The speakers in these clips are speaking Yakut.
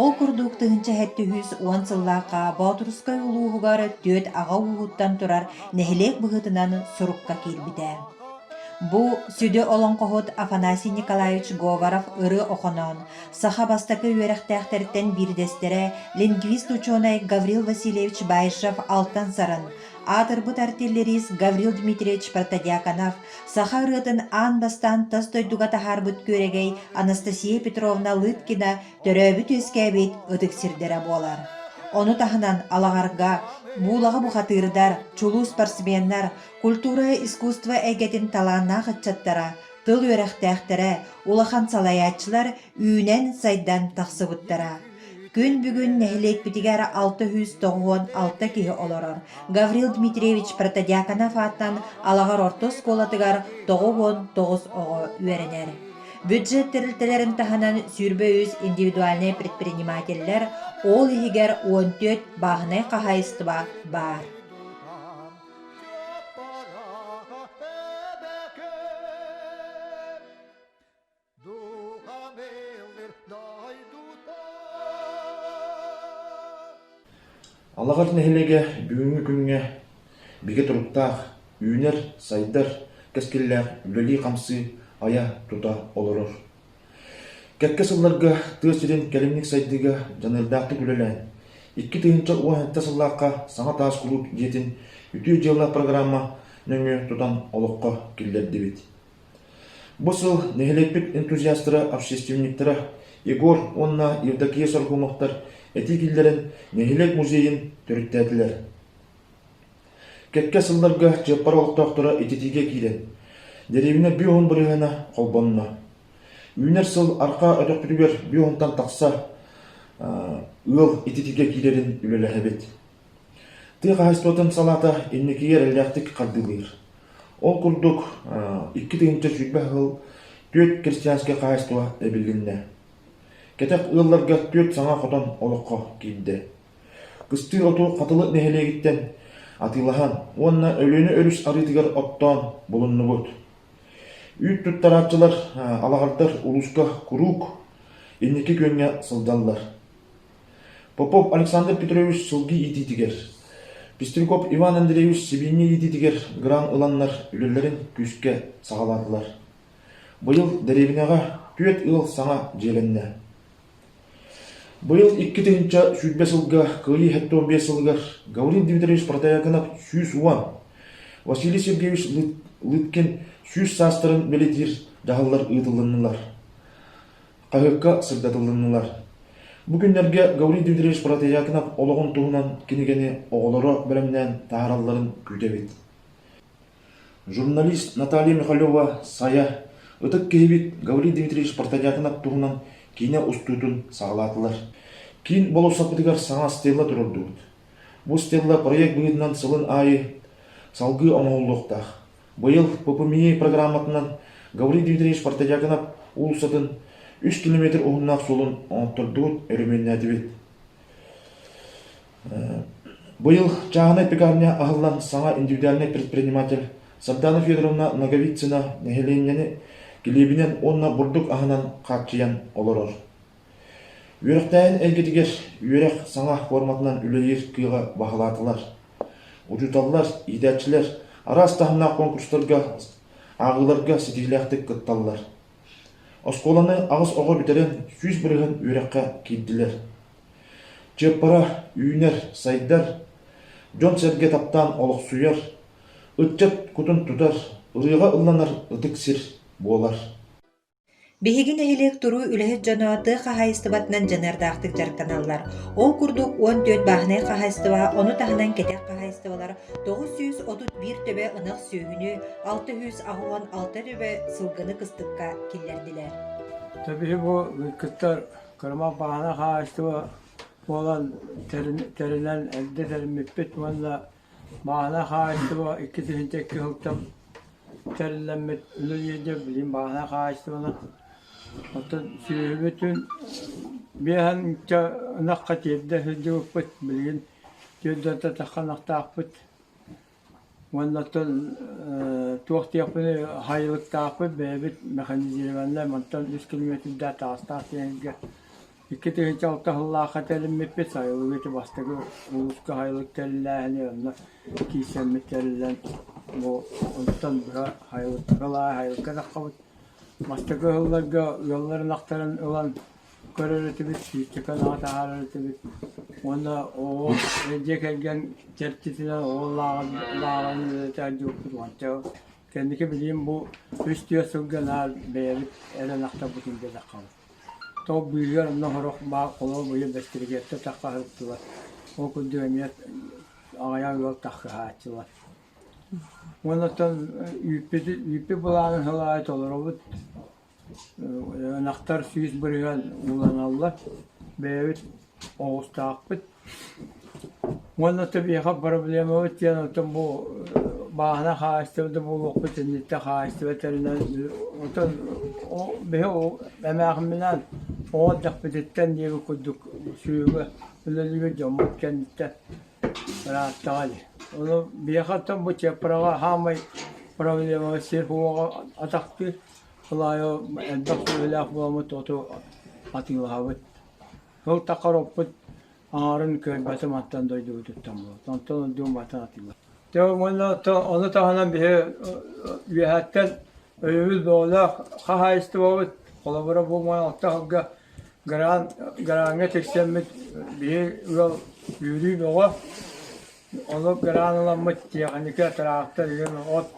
Ол курдук тыһыынча сэттэ үс уон сыллаахха Боотурускай улууһугар түөрт аҕа ууһуттан турар нэһилиэк быһыытынан сурукка киирбитэ. Бу сүдү олоҥхоһут Афанасий Николаевич Говоров-Ыры Охоноон саха бастакы үөрэхтээхтэртэн биирдэстэрэ лингвист-учуонай Гаврил Васильевич Баишев алтан сарын, аатырбыт артиллерист Гаврил Дмитриевич Протодьяконов Саха ырыатын аан бастаан тас дойдуга таһаарбыт күөрэгэй Анастасия Петровна Лыткина төрөөбүт-үөскээбит ытык сирдэрэ буолар. Ону таһынан Алаҕарга, Буулаҕа бухатыырдар, чулуу спортсменнар, культура искусство эйгэтин талааннаах ыччаттара, тыл үөрэхтээхтэрэ, улахан салайааччылар үүнэн-сайдан тахсыбыттара. Күн бүгүн нэһилиэкпитигэр алта сүүс тоҕуһун алта киһи олорор. Гаврил Дмитриевич Протодьяконов ааттан Алаҕар орто оскуолатыгар тоҕус уон тоҕус оҕо үөрэнэр. Бюджет тэрилтэлэрин таһынан сүүрбэ үс индивидуальнай предпринимателлэр, ол иһигэр он төрт бааһынай хаһаайыстыба баар. Духа мэлир дойдута Алаҕар нэһилиэгэ бүгүҥҥү күҥҥэ бигэ туруктаах, үүнэр, сайдар, кэскиллээх үлэлии-хамсыы айа тута олорор. Кэккэ сылларга тыа сирин кэлимник сайдыыга дьаныардаахтык үлэлээн, икки тыһыынча уонча сыллаахха саҥа таас кулууп дьиэтин үтүө дьыалалаах программа нөҥүө тутан олоххо киллэрдибит. Бу сыл нэһилиэкпит энтузиастара, общественниктара Егор уонна Евдокия Соргуновтар этии киллэрэн нэһилиэк музейын төрүттээтилэр. Кэккэ сылларга Чыаппар олохтоохторо ититиигэ киирэн, дэриэбинэ биоһун бырыһыана холбонно. Үүнэр сыл арҕаа өтөхпүтүгэр биоһунтан тахса ыал ититиигэ киирэрин үлэлэһэбит. Тыа хаһаайыстыбатын салаата инникигэ эрэллээхтик хардыылыыр. Ол курдук, икки тыһыынча сүүрбэ ыал, түөрт крестьянскай хаһаайыстыба эбилиннэ. Кэтэх ыалларга түөрт саҥа хотон олоххо киирдэ. Кыстыыр оту Хатылы нэһилиэгиттэн атыылаһан уонна Өлүөнэ өрүс арыытыгар оттоон булуннубут. Үүт туттарааччылар, алаһардар улууска куруук инники күөҥҥэ сылдьаллар. Попов Александр Петрович сылгы иитиитигэр, Пестряков Иван Андреевич сибиинньэ иитиитигэр грант ыланнар үлэлэрин күүскэ саҕалаатылар. Быйыл дэриэбинэҕэ түөрт ыал саҥа дьиэлэннэ. Быйыл икки тыһыынча сүүрбэ сылга кыайыы сэттэ биэс сылыгар Гаврил Дмитриевич Протаякинов сүүс уон, Василий Сергеевич Лыткин сүүс саастарын бэлэтиир дьаһаллар ыытылыннылар. хаһыакка сырдатылыннылар. Бу күннэргэ Гаврил Дмитриевич Протаятинов олоҕун туһунан кинигэни оҕолоро бэлэмнээн таһааралларын күүтэбит. Журналист Наталья Михалева Сайа ытык киһибит Гаврил Дмитриевич Протаятинов туһунан киинэ устуутун саҕалаатылар. Киин болуоссапытыгар саҥа стелла турардыбыт. Бу стелла проект быһыытынан сылын аайы салгыы оҥоһуллуохтаах. Быйыл ППМИ программатынан Гаврил Дмитриевич Портодьяконов уулуссатын үс километр уһуннаах суолун оҥоттордубут, өрөмүөннээтибит. Быйыл чааһынай пекарня аһыллан саҥа индивидуальнай предприниматель Сардана Федоровна Ноговицына нэһилиэнньэни килиэбинэн уонна бурдук аһынан хааччыйан олорор. Үөрэхтээһин эйгэтигэр үөрэх саҥа форматынан үлэлиир кыаҕы баһылаатылар, учууталлар, иитээччилэр араас таһымнаах конкурстарга, ааҕыыларга ситиһиилээхтик кытталлар. Оскуоланы аҕыс оҕо бүтэрэн сүүс бырыһын үөрэххэ киирдилэр. Чыаппара үүнэр, сайдар, дьон-сэргэ таптаан олохсуйар, ыччат кутун тутар, ырыаҕа ылланар ытык сир буолар. Биһиги нэһилиэк туруу үлэһит дьоно тыа хаһаайыстыбатынан дьаныардаахтык дьарыктаналлар. Ол курдук уон түөрт бааһынай хаһаайыстыба, ону таһынан кэтэх хаһаайыстыбалар тоҕус сүүс отут биир төбө ынах сүөһүнү, алта үс ahoһон алта төбө сылгыны кыстыкка киллэрдилэр. Тэбиһи бу кыттар кырама бааһынай хаһаайыстыба буолан тэринэн эрдэ тэриммиппит уонна Баана хаһаайыстыба икки тыһыынча икки сылтан тэриллэммит үлэ диэки билигин баана хаһаайыстыбанан оттон сүөһүбүтүн биэһэнчэ ынахха тиэрдэ сылдьыбыппыт билигин түөрдэрдэ тахха ынахтаахпыт уонна оттон туох диэхпиний хаайылыктаахпыт бэйэбит механизированнай мантан үс километрдаах таастаах сиэҥиргэ Икки тыһыынча алта сыллаахха тэлиммиппит, сайылыгыты бастакы улууска сайылык тэриллээһини онно киирсэммит тэриллэн, бу онтон быһа сайылыктары ылаары сайылыкка таххабыт. Бастакы ыһылларга ыалларын ахтарын ылан көрөр этибит, сиирчэкэн аҕа таһаарар этибит. Уонна оҕо дьиэ кэргэн чэрчитинэн оҕо лааҕын үлэтэ дьукпут уонча кэнники билиим бу үс-түөрт сылга наар бэйэбит эрэн ахтарбытын диэтэххэ. Топ быыһыгар онно сорох баар холоол быйыл бэстилигээттэ тарҕаһыллыбат, ол курдук эмиэ аҕыйах ыал тарҕаһааччылар. Уонна оттон үүппүт үүппүт былаанын сыл аайы толоробут. Ынахтар сүүс бырыһыан ууланаллар. Бэйэбит оҕустаахпыт уонна тэбиэхэ проблемабыт диэн оттон бу бааһына хаһаайыстыба да буолуохпут инниттэ хаһаайыстыба тэринэн оттон биһи эмээхиминээн оҕо эрдэхпититтэн диэбит курдук сүөгэ үлэлиибит дьоммут кэнниттэн ырааттаҕа ди ону биһиэхэ оттон бу чыаппараҕа хаамай проблемаба сир уоҕа атахтыыр ол аайы элбэх сүөһүлээх буоламмыт оту атыылаһабыт Ол да хороппут аҥарын көрбөтүм оттон дойдубутуттан буолбут. Онтон ордук атын атыылар. Дьэ уонна ону таһынан биһи үөһэттэн өйөбүл бөҕөлөөх хаһаайыстыбабыт холобура буолман алта сылга гран, граҥҥа тиксэммит биһи ыал үүрүү бөҕө Ону кыраан ыламмыт тиэхиньикэ, тыраахтар иһин от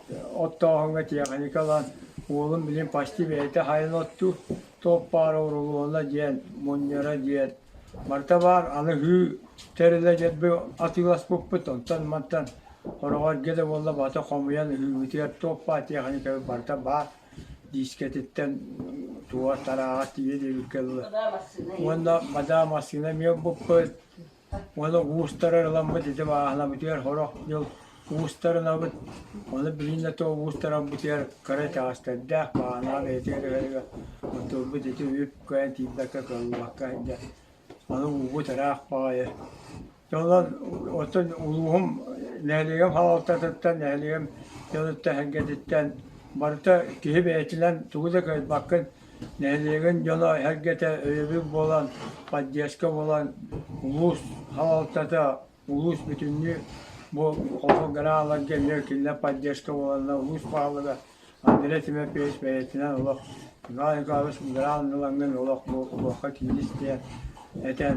оттооһуҥҥа тиэхиньикэ ылан, уолум билигин почти бэйэтэ хайан оттуур, туох баар оруолуона диэн, мунньара диэн. Барыта баар, аны һыы тэрилэ дьэрби атыыласпыппыт, оттон мантан хороҕорго да буолла бата хомуйан ыһыыбытыгар туох баар тиэхиньикэбит барыта баар, диискэтиттэн тууар, тарааҕар тиийэ диэбиккэ дылы. Уонна мадаа массыына эмиэ буппут. Уола уустара ырыламмыт ити бааһынабытыгар сорох дьыл уустар ынабыт, ону билин да тоҕо уустарарбытыгар кыра итэҕэстэрдээх бааһынаҕа бэйэтигэр түһэрэригэр отурбут ити үп-кыайан тиийбэккэ кыаллыбакка сылдьар. Аны уубут ыраах баҕайы. Дьэ онон оттон улууһум нэһилиэгим хаалтатыттан, нэһилиэгим дьонуттан, эһэргэтиттэн барыта киһи бэйэтинэн тугу да кыайбаккын Нэһилиэгин дьоно эһэргэтэ өйөбүл буолан, поддержка буолан, улуус салалтата, улуус бүтүннүү бу хосограаларга эмиэ кинилэр поддержка буоланнар улуус баһылыга Андрей Тимофеевич бэйэтинэн олох Иван Николаевич граннылаҥҥын олох бу олоххо киирис диэн этэн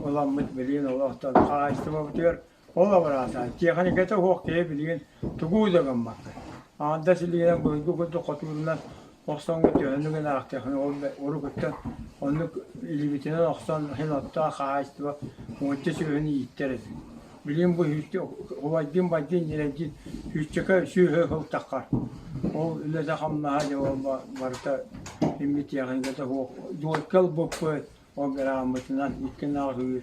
ыламмыт билигин олохтон хаһаайыстыбабытыгар Ол абыраатаан, тиэхиньикэтэ уһуох киһи билигин тугу да гыммаккын. Аҥардас илиинэн дойду курдук хотуурунан охсоҥҥо төһөнү гына аахтыаххын, ол да урукуттан оннук илибитинэн охсон иһин оттоох хаһаайыстыба нуучча сүөһүн ииттэр эбит. Билигин бу үүтчү убайдыын-байдыын ньирэйдиин үүччэкэ сүөһү ылтаххар, ол үлэтэ-хамнаһа дьэ ол барыта имми тиэхиньикэтэ уһуох. Долька ылбыппыт, ол бырааммытынан икки ынах үүр.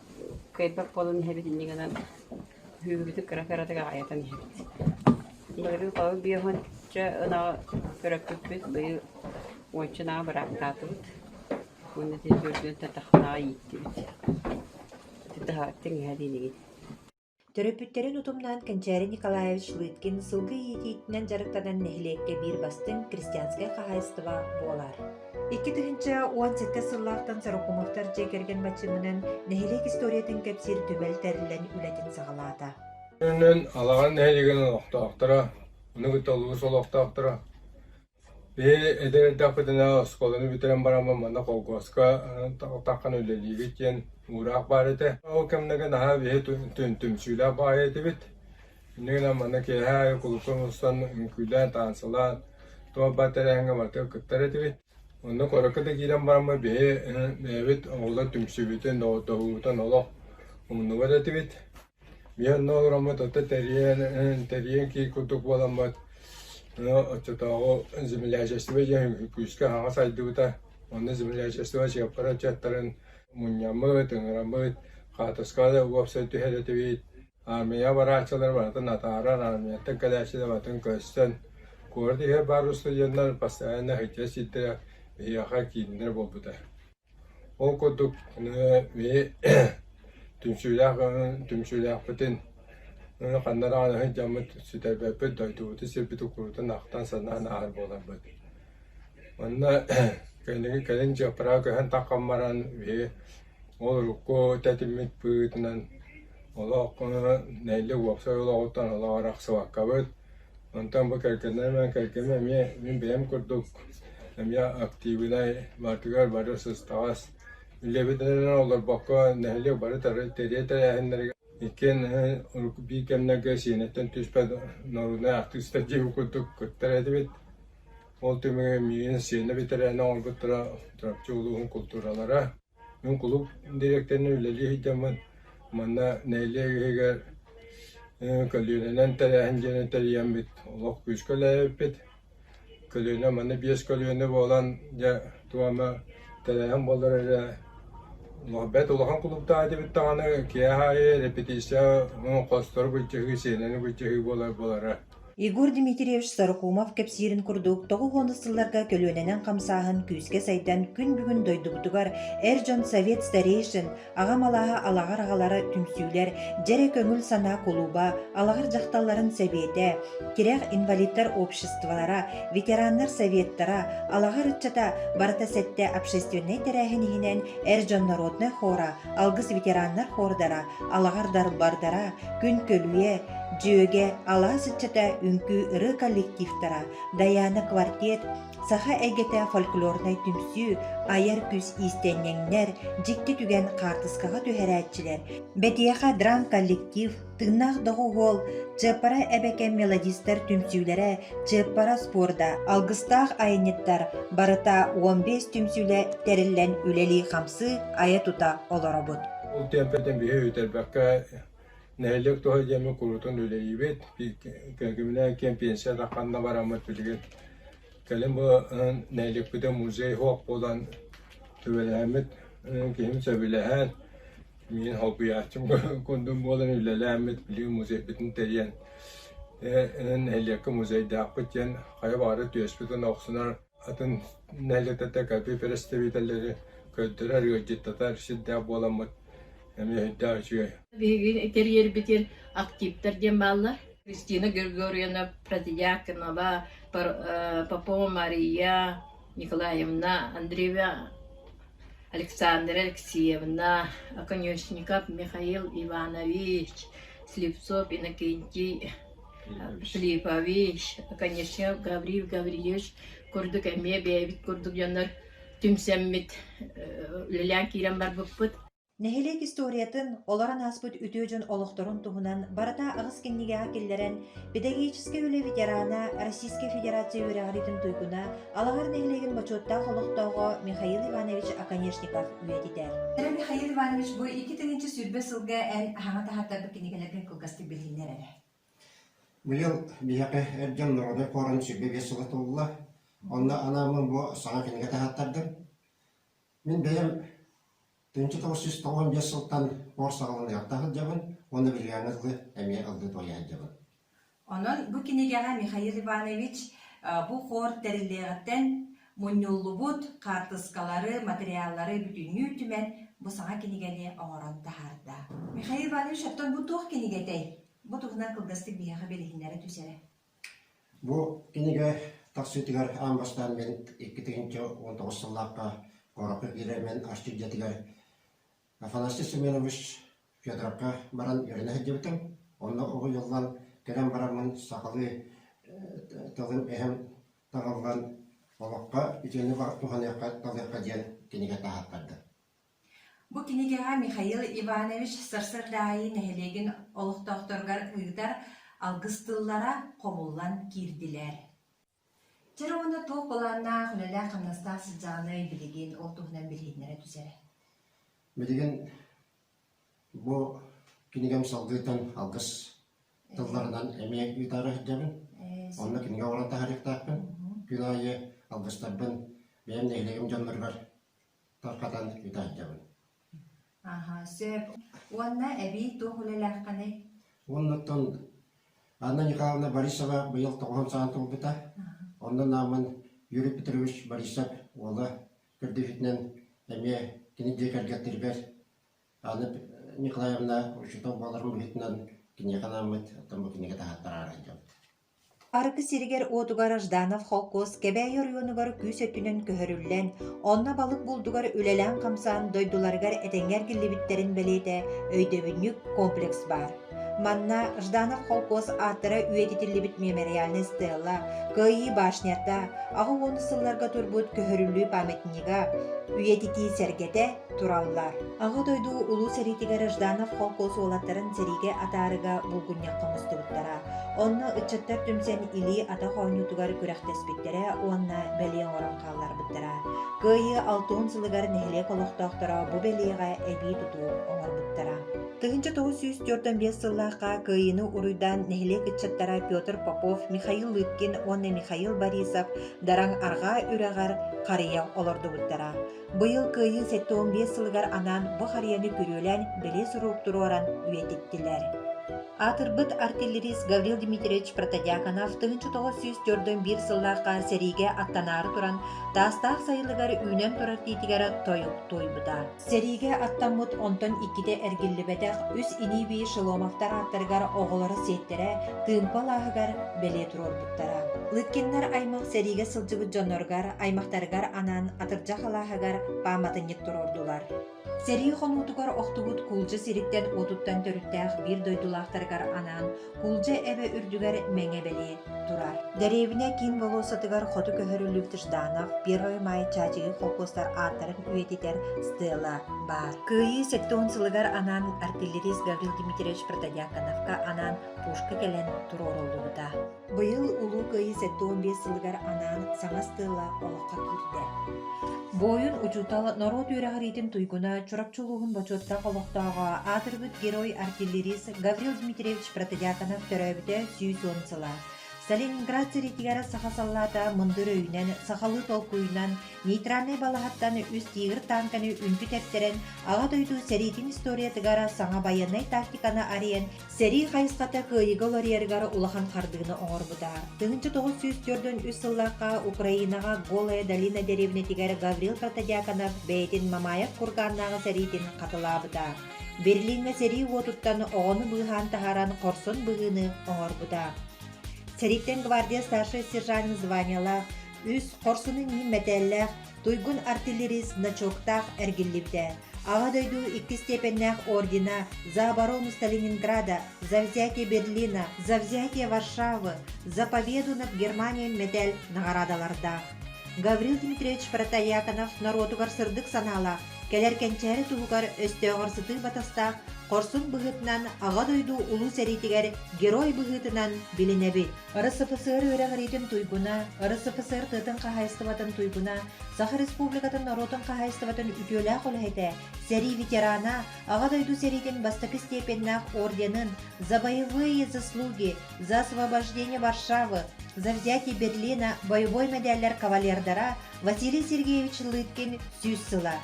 Кыайбат буолан иһэбит инньэ гынан кыһыыбытыт кыра-кыратык аҕайатан иһэбит. Былырыын хонук биэхончо ынаҕы көрөппүппүт, быйыл уонча ынаҕы быраактаатыбыт уонна ити төрдүөн тэтэхтээҕи ииттибит. Ити таһаҕас тиҥэһэ диэн игин Төрөппүттэрин утумнаан Кэнчээри Николаевич Лыткин сылгы иитиитинэн дьарыктанан нэһилиэккэ биир бастыҥ крестьянскай хаһаайыстыба буолар. Икки тыһыынча уон сэттэ сыллаахтан сорукумуттар дьиэ кэргэн баччымынан нэһилиэк историятын кэпсиир түбэл тэриллэн үлэтин саҕалаата. Онон Алаҕар нэһилиэгин олохтоохторо, ону кытта улуус олохтоохторо Ээ, эдэр эрдэхпитинэ оскуоланы бүтэрэн бараммын манна холкуоска атаххына үлэлиигит диэн уураах баар этэ. Ол кэмнэргэ наһаа биһи түмсүүлээх баҕайы этибит. Инньэ гынан манна киэһэ аайы кулуупка мустан үҥкүүлээн, таансылаан, туох-баар тэрээһиҥҥэ барыта кыттар этибит. Онно куоракка да киирэн бараммар биһи бэйэбит оҕолор түмсүүбүтүн, доҕордоһуубутун олох умнубат этибит. Венна олороммут, оттон тэрийэн киир курдук буоламмыт, оччотооҕу землячество диэн күүскэ аһаҕа сайдыбыта, онно землячество чыаппара ыччаттарын мунньаммыт, ыҥыраммыт, хаотоска уопсай түһэр этибит, аармыйа барааччылары барытын атаарар, аармыйаттан кэлээччилэр барытын көстөн, куорат иһигэр баар устудьуоннар постоянно иһитиннэр сирдэрэ, биһиэхэ кииннэрэ буолбута Ол курдук түмсүүлээхпитин ханна даҕаны сылдьаммыт, сүтэрбэппит, дойдубутун сирбит уккуруутун ахтан санаан ааһар буоларбыт. Манна кэлин дьыаппараҕа көһөн тахсан баран ол урукку тэтиммит быыһытынан олох нэһилиэк уопсай олоҕуттан олох арахсыбаккабыт Онтон бу кэргэнэ айман кэргэним эмиэ мин бэйэм курдук эмиэ актыыбынай баартыгар бары сыстаҕас үлэбитинэн олорбокко нэһилиэк бары-тары тэрийэ тэрээһиннэригэр иккиэн урукку биир кэмнэргэ Сиэнэттэн түспэт норуодунай артыыста диэн курдук кыттар этибит. Ол түмүгэр миигин Сиэнэ бэтэрээнэ оҥорбуттара Чурапчы улууһун култууралара Мин кулууп дириэктэринэн үлэлии сылдьаммын, манна нэһилиэк иһигэр көлүөнэнэн тэрээһин диэни тэрийэммит, олох күүскэ үлэлээбиппит. Көлүөнэ манна биэс көлүөнэ буолан, дьэ туома тэрээһин буолар эрэ олох бэрт улахан кулууптаах этибит даҕаны, киэһэ аайы репетиция хостоru быччыһыы, сиэнэни быччыһыы буолар буолара. Егор Дмитриевич Сорокумов кэпсиирин курдук, тоҕус уон сылларга көлүөнэнэн хамсааһын күүскэ сайдан, күн бүгүн дойдубутугар эр дьон совет старейшин, аҕам алааһа алаҕар аҕалара түмсүүлэр, дьэ эрэ көҥүл санаа кулууба, алаҕар дьахталларын сэбиэтэ, тирэх инвалидтар обществолара, ветераннар советтара, алаҕар ыччата барыта сэттэ общественнай тэрээһин иһинэн эр дьон народнай хора, алгыс ветераннар хордара, Алаҕардарбардара, Күнкөлүйэ, Дьүөгэ, алаас ыччата, үҥкүү ырыа коллективтара, Дайаана квартет, саха эйгэтэ фольклорнай түмсүү, айар күүс иистэнньэҥнэр, дьикти түгэн хаартыскаҕа түһэрээччилэр, Бэтиэхэ драм коллектив, Тыыннаах доҕуһуол, Чыаппара эбэкэ мелодистар түмсүүлэрэ, Чыаппара спорда, алгыстаах айанньыттар барыта 15 түмсүүлэ тэриллэн үлэлии-хамсыы, айа-тута олоробут. Ол тиэмпэтин биһи бүтэрбэккэ нэһилиэк туһа диэми куруутун үлэлиибит. Кэргэмминээн киэм пенсията ханна бараммыт билигин кэлин бу нэһилиэкпитин музей оһох буолан сүбэлэһэммит киһим сөбүлэһэн миин холбуйааччым курдук буолан үлэлээммит билигин музейбитин тэрийэн нэһилиэккэ музейдаахпыт диэн хайа баары түөспүтүн охсунар Атын нэһилиэктэртэн кэлбит бэрэстэбиитэллэри көрдөрөр, ыалдьыттатар сирдээх буоламмыт эмиэ сүрдээх үчүгэй. Биһиги тэрийэрбитин активтар диэн бааллар. Кристина Григорьевна Протодьяконова, Попова Мария Николаевна, Андреева Александра Алексеевна, Конечников Михаил Иванович, Слепцов Иннокентий Филиппович, конечно, Гавриил Гаврильевич курдук эмиэ бэйэбит курдук дьоннор түмсэммит үлэлээн киирэн барбыппыт. Нэһилиэк историятын, олорон ааспыт үтүө дьон олохторун туһунан барыта аҕыс кинигэҕэ киллэрэн, педагогическай үлэ ветерана, Российскай Федерация үөрэҕириитин туйгуна, Алаһар нэһилиэгин бочуоттаах олохтооҕо Михаил Иванович Оконешников үйэтитэр. Михаил Иванович бу икки тыһыынча сүүрбэ сылга эн аһаҕас таһаартарбыт кинигэлэргэ кылгастык билиһиннэр эрэ. Быйыл биһиэхэ эр дьон норуодай куорум сүргэ биэс сыла туолла, онно анааммын бу саҥа кинигэ таһааттардым. Мин бэйэм тыһыынча тоҕус сүүс тоҕуон биэс сылтан куор саҕалаан ыалдьа сылдьабын уонна Виллиана дылы эмиэ ыллыы туойа сылдьабын. Онон бу кинигэҕэ Михаил Иванович бу куор тэриллиэҕиттэн Мунньуллубут хаартыскалары, материаллары бүтүннүү түмэн, бу саҥа кинигэни оҥорон таһаарда. Михаил Иванович, оттон бу туох кинигэ этэй? Бу туһунан кылгастык биһиэхэ билиһиннэрэ түсэрэ. Бу кинигэ тахсыытыгар аан бастаан мен икки тыһыынча уон тоҕус сыллаахха куоракка киирэр мен асчыт дьиэтигэр Афанасий Семенович Федоровка баран үөрэнэ сылдьыбытым. Онно уһуйуллан кэлэн бараммын сахалыы тылын эһэм таҕыллан олоххо итини туһаныахха-талыахха диэн кинигэти ааттарда Бу кинигэҕэ Михаил Иванович Сарсыардаайы нэһилиэгин олохтоохторугар ыытар алгыс тыллара хомуллан киирдилэр. Чэр уонна туох былааннаах, үлэлээх-хамнастаах сыдьаанай билигин ол туһунан билиһиннэрэ түзэрэ. Билигин Бу кинигэм салгыытын алгыс тылларынан эмиэ ыытаары сылдьабын. Онно кинигэ оҥорон таһаарыахтаахпын. Күн аайы алгыстарбын бэйэм нэһилиэгим дьонноругар тарҕатан ыйта сылдьабын. Аха, сөп. Уонна эбии туох үлэлээххиний? Оннуттан Анна Николаевна Борисова быйыл тоҕуһун саҕан туолбута. Онно Нааман Юрий Петрович Борисов уола Көрдүүрүтүнэн эмиэ кини дьиэ кэргэттэрбэр Анна Николаевна учуутал буоларым быһыытынан киниэхэ анааммыт, оттон бу кинигэ таһааттарара арылдьабыт. Арыгы сиригэр-уотугар Жданов холкуос Кэбээйи оройуонугар күүс өттүнэн көһөрүллэн, онно балык булдугар үлэлээн-хамсаан дойдуларыгар этэҥҥэ эргиллибиттэрин бэлиэтэ өйдөбүнньүк комплекс баар. Манна Жданов холкуос ааттара үйэтитиллибит мемориальнай стелла, Кыайыы башнята, аҕыс уон сылларга турбут көһөрүллүү памятнига, үйэтитии сэргэтэ тураллар. Аҕа дойду улуу сэриитигэр Жданов холкуос уолаттарын сэриигэ атаарыга булгунньахха мустубуттара. Онно ыччаттар түмсэн илии атах оонньуутугар күрэхтэспиттэрэ уонна бэлиэ оҥорон хаалларбыттара. Кыайыы алтыһын сылыгар нэһилиэк олохтоохторо бу бэлиэҕэ эбии тутуу оҥорбуттара. Тыһыынча тоҕус сүүс түөртэн биэс сыллаахха Кыайыыны уруйдаан нэһилиэк ыччаттара Петр Попов, Михаил Лыткин уонна Михаил Борисов дараҥ арҕаа үрэҕэр харыйа олордубуттара. Быйыл Кыайыы сэттэ уон биэс сылыгар анаан бу харыйаны күрүөлээн билии сурук туруоран үйэтиттилэр. Аатырбыт артиллерист Гаврил Дмитриевич Протодьяконов тыһыынча тоҕус сүүс төрдөн биир сыллаахха сэриигэ аттанаары туран таастаах сайылыгар үүнэн турар тиитигэр тойук туойбута. Сэриигэ аттаммыт онтон иккитэ эргиллибэтэх үс инибии Шеломовтар ааттарыгар оҕолоро сиэттэрэ тыымпа алааһыгар бэлиэ туруорбуттара. Лыткиннар аймах сэриигэ сылдьыбыт дьонноругар, аймахтарыгар анаан атырдьах алааһыгар пааматынньык туруордулар. Сэрии хонуутугар охтубут куулдьа сириттэн уотуттан төрүттээх биир дойдулаахтарыгар анаан Кулдьа эбэ үрдүгэр мэҥэ бэлиэ турар. Дэриэбинэ киин болуоссатыгар хоту көһөрүллүбүт Жданов, Первый Май чаачыгый холкуостар ааттарын үйэтитэр стела баар. Кыайыы сэттион сылыгар анаан артиллерист Гаврил Дмитриевич Протодьяконовка анаан пушка кэлэн туруоруллубута. Быйыл Улуу Кыайыы сэттион биэс сылыгар анаан саҥа стела олоххо киирдэ. Буойун учуутал норуот үөрэҕириитин туйгуна Чурапчы улууһун бочуоттаах олохтооҕо, аатырбыт герой-артиллерист Гаврил Дмитриевич Протодьяконов төрөөбүтэ сүүс уон сыла. Сталинград сэриитигэр саха саллаата мындыр өйүнэн, сахалыы толкуйунан, нейтральнай балаһаттан үс тигр танканы үнтү тэптэрэн, Аҕа дойду сэриитин историятыгар саҥа байыаннай тактиканы арыйан, сэрии хайысхата кыайыыга уларыйарыгар улахан хардыыны оҥорбута. Тыһыынча тоҕус сүүс төрдүн үс сыллаахха Украинаҕа Голая долина дэриэбинэтигэр Гаврил Протодьяконов бэйэтин Мамаев кургааннааҕы сэриитин хатылаабыта. Берлиҥҥэ сэрии уотуттан оҕону быыһаан таһааран хорсон быһыыны оҥорбута. Сэрииттэн гвардия старшай сержант званиелаах, үс хорсунун иһин мэтээллээх туйгун артиллерист значоктаах эргиллибитэ. Аҕа дойду икки степеннээх ордена за оборону Сталининграда, за взятие Берлина, за взятие Варшавы, за победу над Германией мэтээл наҕараадалардаах. Гаврил Дмитриевич Протояконов норуотугар сырдык санаалаах, Кэлэр кэнчээри туһугар өстөөҕөрсутуу батастаах хорсун быһыытынан Аҕа дойду Улуу сэриитигэр герой быһыытынан билинэбит. РСФСР үөрэҕириитин туйгуна, РСФСР тыатын хаһайыстыбатын туйгуна, Саха Республикатын норуотун хаһайыстыбатын үтүөлээх үлэһитэ, сэрии ветерана, Аҕа дойду сэриитин бастакы степеннээх орденын за боевые заслуги, за освобождение Варшавы, за взятие Берлина боевой мэдээллэр кавалердара Василий Сергеевич Лыткин сүүс сыла.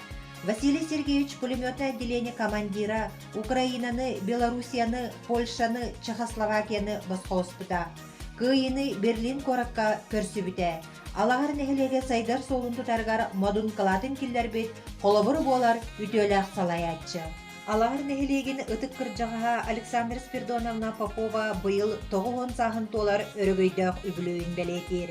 Василий Сергеевич пулеметное отделение командира Украинаны, Белоруссияны, Польшаны, Чехословакияны босхолоспута. Кыайыны Берлин куоракка көрсүбүтэ. Алаһар нэһилиэгэ сайдар суолун тутарыгар модун кылаатын киллэрбит холобур буолар үтүөлээх салайааччы. Алаһар нэһилиэгин ытык кырдьаҕаһа Александра Спирдоновна Попова быйыл тоҕус уон сааһын туолар өрөгөйдөөх үбүлүөйүн бэлиэтиир.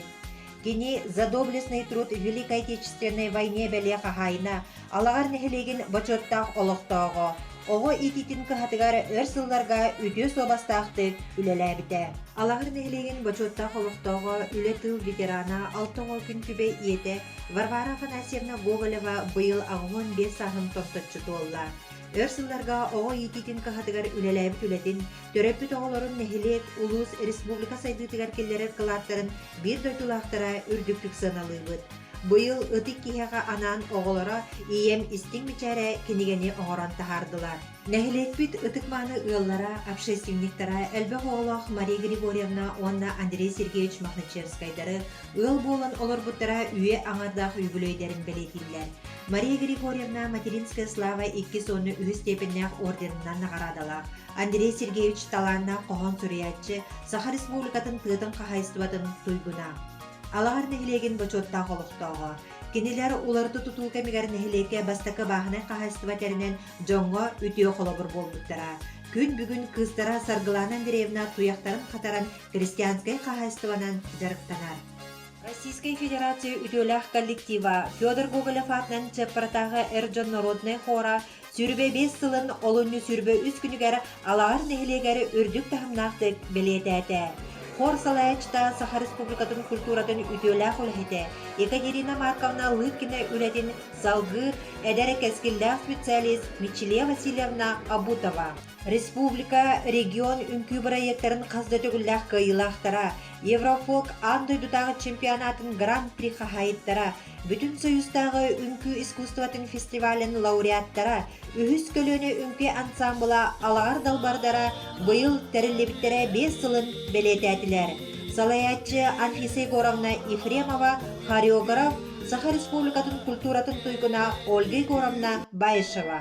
Кини За доблестный труд в Великой Отечественной войне бэлиэ хаһаайына, Алаҕар нэһилиэгин бочуоттаах олохтооҕо, оҕо иитиитин кыһатыгар өр сылларга үтүө суобастаахтык үлэлээбитэ. Алаҕар нэһилиэгин бочуоттаах олохтооҕо, үлэ тыл ветерана, алта оҕо күн түбэ ийэтэ Варвара Афанасьевна Гоголева быйыл аҕыҥын биэс сааһын томточчу туолла. Өр сылларга оҕо иитиитин кыһатыгар үлэлээбит үлэтин Төрөппүт оҕолорун нэһилиэк, улуус, республика сайдыытыгар киллэрэр кылааттарын биир дойдулаахтара үрдүктүк сыаналыыбыт. Быйыл Ытык киһиэхэ анаан оҕолоро ийэм истиҥ мичээрэ кинигэни оҥорон таһаардылар. Нэһилиэкпит ытык-мааны ыаллара, общественниктара, элбэх оҕолоох Мария Григорьевна уонна Андрей Сергеевич Мохначевскайдары ыал буолан олорбуттара үйэ аҥардаах үбүлүөйдэрин бэлиэтииллэр. Мария Григорьевна Материнская слава иккис уонна үһүс степеннээх орденынан наҕараадалаах, Андрей Сергеевич талааннаах хоһоон суруйааччы, Саха Республикатын тыатын хаһайыстыбатын туйгуна. Алаһар нэһилиэгин бочуоттаах олохтооҕо. Кинилэр уларыта тутуу кэмигэр нэһилиэккэ бастакы бааһынай хаһайыстыба тэринэн дьоҥҥо үтүө холобур буолбуттара. Күн бүгүн кыыстара Саргылана Андреевна туйахтарын хатаран христианскай хаһайыстыбанан дьарыктанар. Российскай Федерация үтүөлээх коллектива Федор Гоголев аатынан Чеппратааҕы эр дьон норуодунай хора сүүрбэ биэс сылын олунньу сүүрбэ үс күнүгэр Алааһар нэһилиэгэр үрдүк таһымнаахтык бэлиэтээтэ. Хор салайааччыта Саха Республикатын культуратын үтүөлээх үлэһитэ Екатерина Марковна Лыткина үлэтин салгыы эдэр кэскиллээх специалист Мичилия Васильевна Абутова Республика, регион үҥкүү бырайыактарын хас да төгүллээх кыайыылаахтара, Еврофолк аан дойдутааҕы чемпионатын гран-при хаһаайыттара, Бүтүн Союзтааҕы үҥкүү искусствотын фестивалин лауреаттара, үһүс көлүөнэ үҥкүү ансаамбыла алаҕар далбардара быйыл тэриллибиттэрэ биэс сылын бэлиэтээтилэр. Салайааччы Анфиса Егоровна Ефремова, хореограф, Саха Республикатын культуратын туйгуна Ольга Егоровна Баишева.